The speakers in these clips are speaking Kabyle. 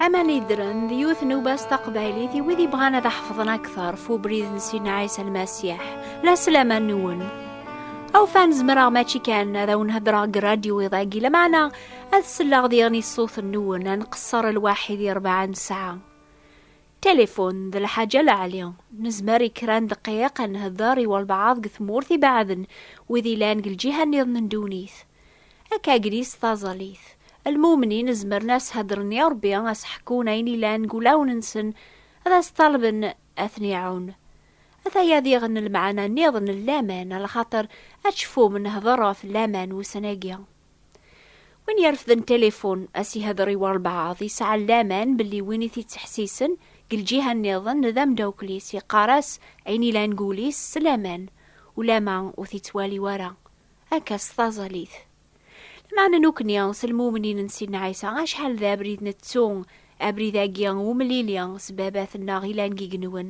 Aman Idren d yiwet n ubas taqbaylit i wid yebɣan ad ḥefḍen akteṛ f ubrid n Sidna Ɛisa Lmasiḥ. La sslam-a nwen. Awfan zemreɣ mačči kan ad awen-heddreɣ deg radyu iḍ-agi, lameɛna ad selleɣ diɣen i ṣṣut nwen, ad nqeṣṣer lwaḥid i rebɛa n ssaɛa. Tilifun d lḥaǧa leɛli. Nezmer i kra n ddqiq ad nhedder i walbeɛḍ deg tmurt ibeɛden, wid yellan deg lǧiha-nniḍen n ddunit. Akka agris taẓalit. Lmumnin zemren a s-heddren i Rebbi, a s-ḥekkun ayen ilan deg ulawen-nsen, ad as-ṭalben ad ten-iɛun. Ataya diɣen lmeɛna nniḍen n laman, a lxaṭer ad tecfum nehder ɣef laman ussan-agi. Win irefden tilifun, a s-ihedder i walbeɛḍ yesɛan laman belli win i t-ittḥessisen deg lǧiha nniḍen d ameddakel-is, yeqqar-as ayen ilan deg wul-is s laman, ulamma ur t-ittwali wara. Akka s taẓalit. Lmeɛna nukni s lmumnin n Sidna Ɛisa, acḥal d abrid nettu, abrid-agi n umlili s Baba-tneɣ ilan deg yigenwen,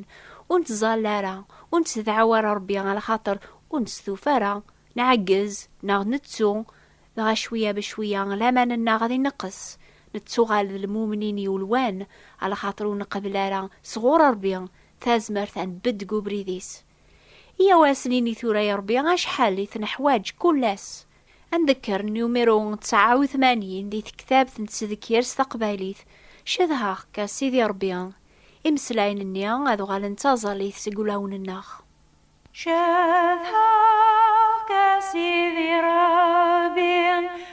ur nettẓalla ara, ur nettedɛaw ara Rebbi a lxaṭer ur nestufa ara, nɛeggez neɣ nettu, dɣa cwiya be cwiya laman-nneɣ ad ineqqes, nettuɣal d lmumnin yulwan, a lxaṭer ur neqbel ara sɣur Rebbi tazmert ad nbedd deg ubrid-is. Iya wasen-ini tura i Rebbi acḥal i t-neḥwaǧ kull ass. Ad ndekker numiru ţɛa u tmanyin di tektabt n tsedkirt s taqbaylit, Cedhaɣ-k a Sidi Rebbi. Imeslayen-nni ad uɣalen d taẓallit seg ulawen-nneɣ. Cedhaɣ-k a Sidi Rebbi.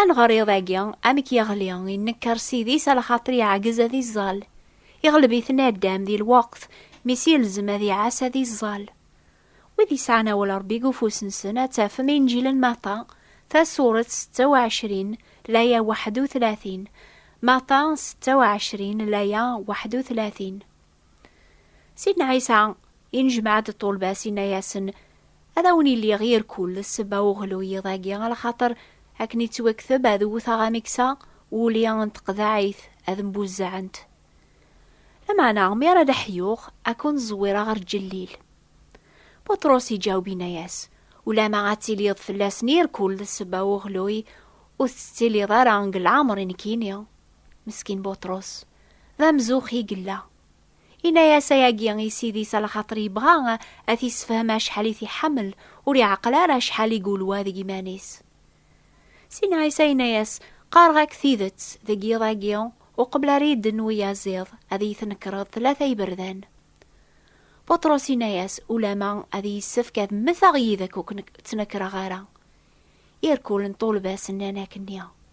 Aneɣriḍ agi amek yeɣli innekker s idis a lxaṭer yeɛgez ad iẓẓal. Iɣleb-it naddam di lweqt mi s-yelzem ad iɛas ad iẓẓal. Wid yesɛan awal Rebbi deg ufus-nsen ad tafem Inǧil n Matta, tasuret setta u ɛecrin, laya waḥed u tlatin, Matta setta u ɛecrin, laya waḥed u tlatin. Sidna Ɛisa inejmaɛ-d ṭṭulba-s inna-yasen, Ad awen iliɣ yir kull sebba uɣlu yiḍ-agi, ala xaṭer akken ittwakteb ad wwteɣ amiksa uli n teqḍaɛit ad mbuzzaɛent. Lameɛna mi ara d-ḥyuɣ ad kun-ẓwireɣ ɣer ǧellil. Buṭrus iǧaweb inna-yas, Ulama ad tiliḍ fell-asen yir kull sebba uɣluy, ur tettiliḍ ara deg leɛmer i nekkini. Meskin Buṭrus, d amzux i yella. Inna-yas ayagi i Sidi-s a lxaṭer yebɣa a t-issefhem acḥal i t-iḥamel, ur iɛeqqel ara acḥal i gulwa deg iman-is. Sin Ɛisa inna-yas, Qqareɣ-ak tidet, deg yiḍ-agi, uqbel ara yedden uyaziḍ, ad iyi-tnekreḍ tlata iberdan. Buṭrus inna-yas, Ulama ad yessefk ad mmeteɣ yid-k ur k-ttnekreɣ ara. Irkulen ṭulba-s nnan akkenni.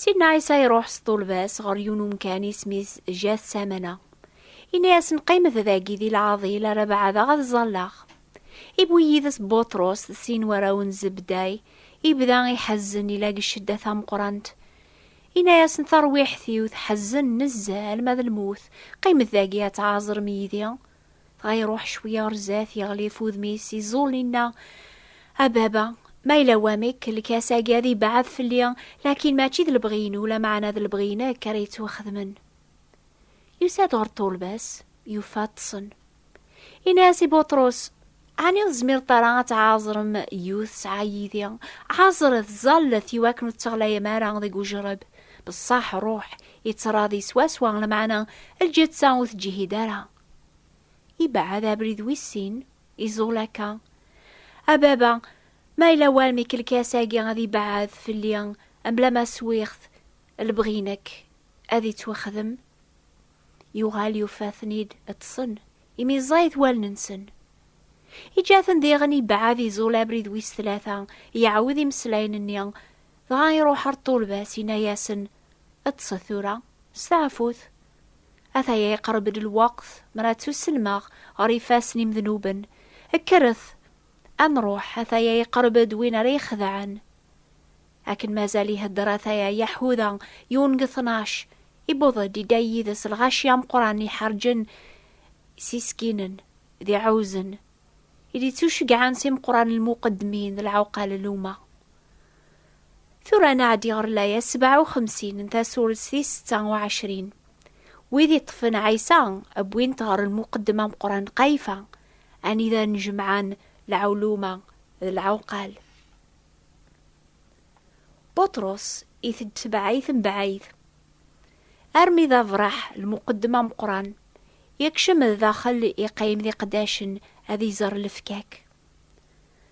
Sidna Ɛisa iruḥ s ṭulba-s ɣer yiwen umkan isem-is Jat Samana. Ini-asen qqimet dagi di lɛaḍil ara baɛdeɣ ad ẓalleɣ. Iwwi yid-s Buṭrus d sin warraw n Zebday, ibda iḥezzen ila deg ccedda tameqrant. Ini-asen tarwiḥt-iw tḥezzen nezzeh alma d lmut, qqimet dagi ad tɛaẓrem yid-i. Dɣa iruḥ cwi ɣer zdat, yeɣli ɣef wudem-is, iẓul, inna, A baba, ma yella wamek, lkas-agi ad yebɛed fell-i, lakin mačči d lebɣi-inu, lameɛna d lebɣi-inek ara yettwaxedmen. Yusa-d ɣer ṭṭulba-s, yufa ṭṭsen. Inna-as i Buṭrus, Ɛni ur tezmireḍ ara ad tɛaẓrem yiwet tesɛa yid-i? Ɛaẓret, ẓallet i wakken ur tteɣlayem ara deg ujreb. Beṣṣaḥ ṛuḥ, ittṛaḍi swaswa, lameɛna lǧetta ur teǧhid ara. Ibeɛɛed abrid wis sin, iẓul akka. A baba, ma yella walmi ikelkas-agi ad ibeɛɛed fell-i mebla ma swiɣ-t, lebɣi-inek ad ittwexdem? Yuɣal yufa-ten-id ṭṭsen, imi ẓẓayit wallen-nsen. Iǧǧa-ten diɣen ibɛed iẓul abrid wis tlata, iɛawed imeslayen-nni, dɣa iruḥ ar ṭṭulba-s, inna-yasen, Ṭṭset tura, steɛfut. Ataya iqerreb-d lweqt mer ad ttuselmeɣ ɣer ifassen imednuben. Kkret, ad nruḥ, ataya iqerreb-d win ara ixedɛen. Akken mazal ihedder ataya Yaḥuda, yiwen deg tnac, iwweḍ-d, idda yid-s lɣaci ameqqran i iḥerǧen isiskinen d iɛuzen, i d-ittuceggɛen s imeqqran n lmuqeddmin d lɛuqal n umma. Tura ad nɛeddi ɣer laya sebɛa u xemsin n tasurett tis setta u ɛecrin. Wid iṭṭfen Ɛisa, wwin-t ɣer lmuqeddem ameqqran Qayfa, anida nnejmaɛen lɛuluma d lɛuqal. Buṭrus itett tebɛayt mebɛayt armi d abraḥ lmuqeddem ameqqran yekcem d daxel iqqim d iqeddacen ad iẓer lefkak.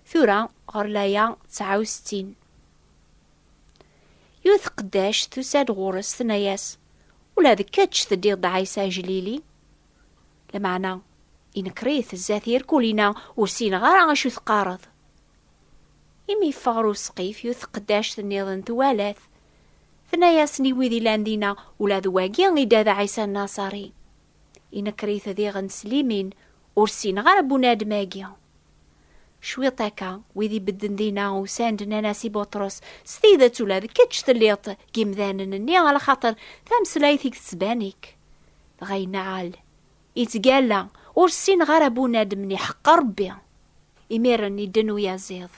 Tura ɣer laya tesɛa u settin. Yiwet tqeddact tusa-d ɣur-s tenna-yas, Ula d kečč teddiḍ d Ɛisa Aglili? Lameɛna inker-it zdat yirkulin-a, ur ssineɣ ara acu teqqareḍ. Imi yeffeɣ ɣer usqif, yiwet tqeddact nniḍen twala-t. Tenna-yasen i wid ilan dinna, Ula d wagi i d ad Ɛisa Nnasari. Inekker-it diɣen s limin, Ur ssineɣ ara bunadem-agi. Cwiṭ akka, wid ibedden dinna usan-d nnan-as i Buṭrus, S tidet ula d kečč telliḍ-t deg yimdanen-nni, alaxaṭer tameslayt-ik tettban-ik. Dɣa yenna-al. Yettgalla, Ur ssineɣ ara bunadem-nni, iḥeqqer Rebbi. Imiren, idden uyaziḍ.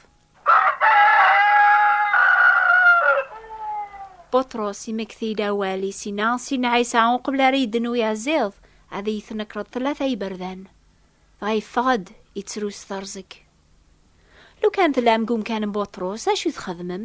Buṭrus, imekti-d awal i Sina, Sina Ɛisa, uqbel ara yedden uyaziḍ, ad iyi-tnekreḍ tlata iberdan. Dɣa yeffeɣ-d, ittru s terzeg. Lukan tellam deg umkan n Buṭrus, acu i txedmem?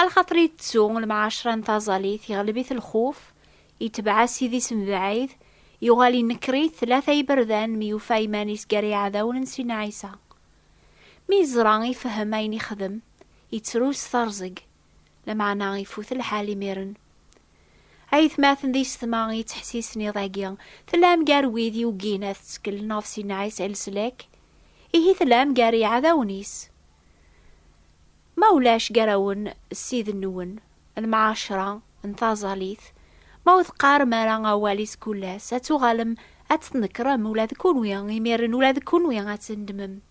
A lxaṭer ittettu lemɛaceṛa n taẓalit, iɣleb-it lxuf, itebɛ-as idis mebɛid, yuɣal inekker-it tlata iberdan mi yufa iman-is gar iɛdawen n Sidna Ɛisa. Mi yeẓra, ifehhem ayen ixdem, ittru s teṛẓeg, lameɛna ifut lḥal imiren. A yetmaten d yessetma i yettḥessisen iḍ-agi, tellam gar wid yuggin ad tteklen ɣef Sidna Ɛisa i leslak? Ihi tellam gar iɛdawen-is. Ma ulac gar-awen ssid-nwen lmɛacra n taẓalit, ma ur teqqarem ara awal i tkullas, ad tuɣalem ad tt-tnekrem ula d kunwi, imiren ula d kunwi ad tt-tendmem.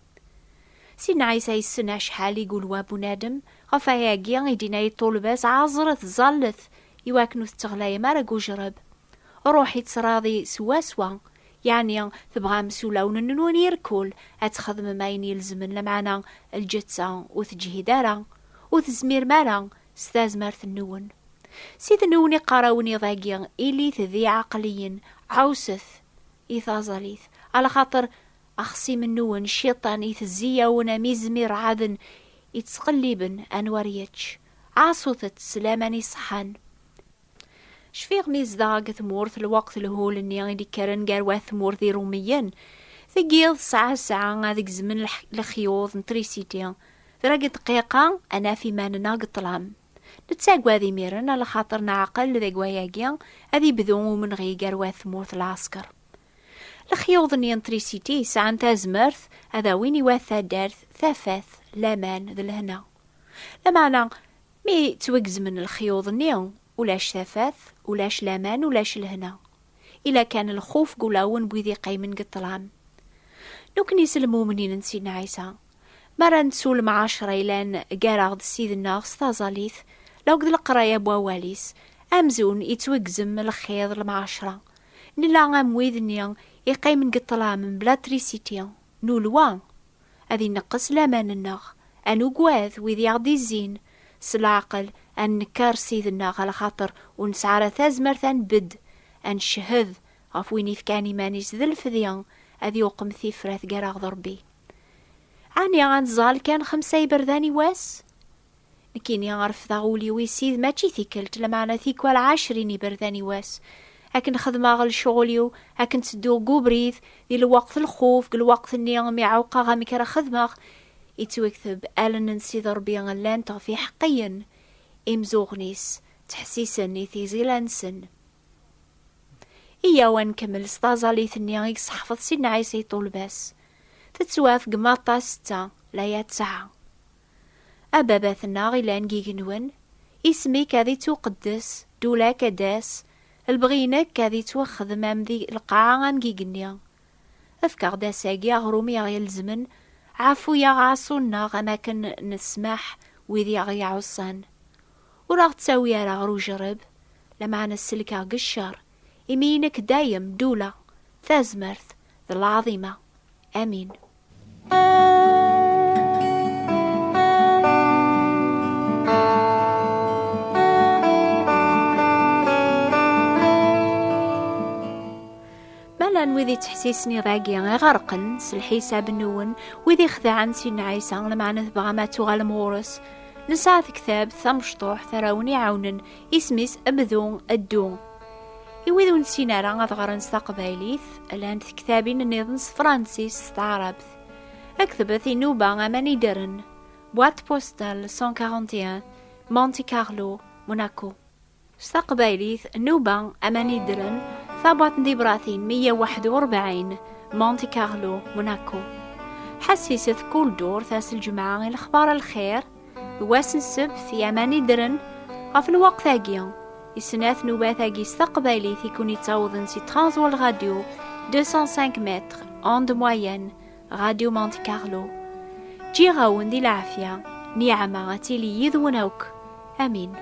Sidna Ɛisa yessen acḥal i gulwa n bunadem, ɣef wayagi i d-yenna i ṭṭulba-s, Ɛaẓret, ẓallet, iwakken ur tetteɣlayem ara deg ujreb. Ṛuḥ i tt-tṛaḍi swaswa, Yeɛni tebɣam s ulawen-nnun irkul ad txedmem ayen ilezmen lameɛna lǧetta ur teǧhid ara, ur tezmirem ara s tazmert-nwen. Ssid-nwen iqqar-awen iḍ-agi ilit d iɛaqliyen, ɛusset i taẓalit, alaxaṭer axṣim-nwen Cciṭan itezzi-yawen am izem iṛɛaden ittqelliben anwa ar yečč. Ɛaṣut-t s laman iṣeḥḥan. Cfiɣ mi yezdeɣ deg tmurt lweqt lhul-nni i d-ikkren gar wat tmurt d Irumiyen. Deg yiḍ tesɛa ssaɛa ad gezmen lexyuḍ n trisiti. Tra deg ddqiqa ad naf iman-nneɣ deg ṭṭlam. Nettagad imiren a lxaṭer neɛqel deg wayagi ad ibdu umenɣi gar wat tmurt lɛesker. Lexyuḍ-nni n trisiti sɛan tazmert ad awin i wat taddart tafat, laman d lehna. Lameɛna Mi ttwagezmen lexyuḍ-nni, ulac tafat, ulac laman, ulac lehna. Ila kan lxuf deg ulawen n wid iqqimen deg ṭṭlam. Nekkni s lmumnin n Sidna Ɛisa, mi ara nettu lemɛacer-a yellan gar-aɣ-d s Sid-nneɣ s taẓallit akked leqraya n Wawal-is, amzun yettwagzem lxiḍ, lemɛacer-a, nella am wid-nni iqqimen deg ṭṭlam mebla trisiti, nulwa ad ineqqes laman-nneɣ, ad nugad wid i aɣ-d-izzin, s leɛqel ad nenker Ssid-nneɣ ɣer lxaṭer ur nesɛi ara tazmert ad nbedd, ad ncehhed ɣef win ifkan iman-is d lfdi, ad iwqem tifrat gar-aɣ d Rebbi. Ɛni ad nẓall kan xemsa iberdan i wass? Nekkini refdeɣ ul-iw i Ssid mačči tikkelt, lameɛna tikwal ɛecrin iberdan i wass. Akken xedmeɣ lecɣul-iw, akken ttedduɣ deg ubrid, di lweqt n lxuf, deg lweqt-nni mi ɛewqeɣ amek ara xedmeɣ, yettwekteb, allen n Sidi Ṛebbi llant ɣef yiḥeqqiyen, imzuɣen-is ttḥessisen i tigzila-nsen. Iyyaw ad nkemmel s taẓallit-nni i yesseḥfeḍ Sidna Ɛisa i ṭṭulba-s. Tettwafgem aṭas ssetta, laya ttɛa. Ababat-nneɣ ilan deg igenwen, isem-ik ad ittuqeddes, ddula-k ad d-tas, lebɣi-inek ad ittwaxdem am di lqaɛa am deg igenni. Efk-aɣ-d ass-agi aɣrum i aɣ-ilezmen, ɛaffu-yaɣ ɛaṣu-nneɣ am akken nesmaḥ wid i aɣ-iɛuṣan. Ur aɣ-ttawi ara ɣer ujerreb, lameɛna sellek-aɣ deg ccer, imi inek dayem ddula, tazmert, d lɛaḍima. Amin. Malan wid yettḥessisen iḍ-agi iɣerqen s lḥisab nwen, wid ixedɛen Sidna Ɛisa, lmeɛna tebɣam ad tuɣalem ɣur-s. Nesɛa tektabt tamecṭuḥt ara wen-iɛawnen Isem-is Bdu Ddu. I wid ur nessin ara ad ɣren s taqbaylit, llant tektabin nniḍen s Fransis s taɛrabt. Aktbet inuba aman ideren. Boîte postale 141 Monte Carlo, Monaco. S taqbaylit, nuba aman ideren, tabwaṭ n tibratin 141 Monte Carlo, Monaco. Ḥessiset kul durt ass lǧemɛa i lexbar lxir, d wass n ssebt yaman i ddren ɣef lweqt-agi i snat nubat-agi s taqbaylit i kun yettawḍen si Transworld Radio 205 mètres onde moyenne Radio Monte Carlo ǧǧiɣ-awen di lɛafya niɛma ad tili yid-wen akk amin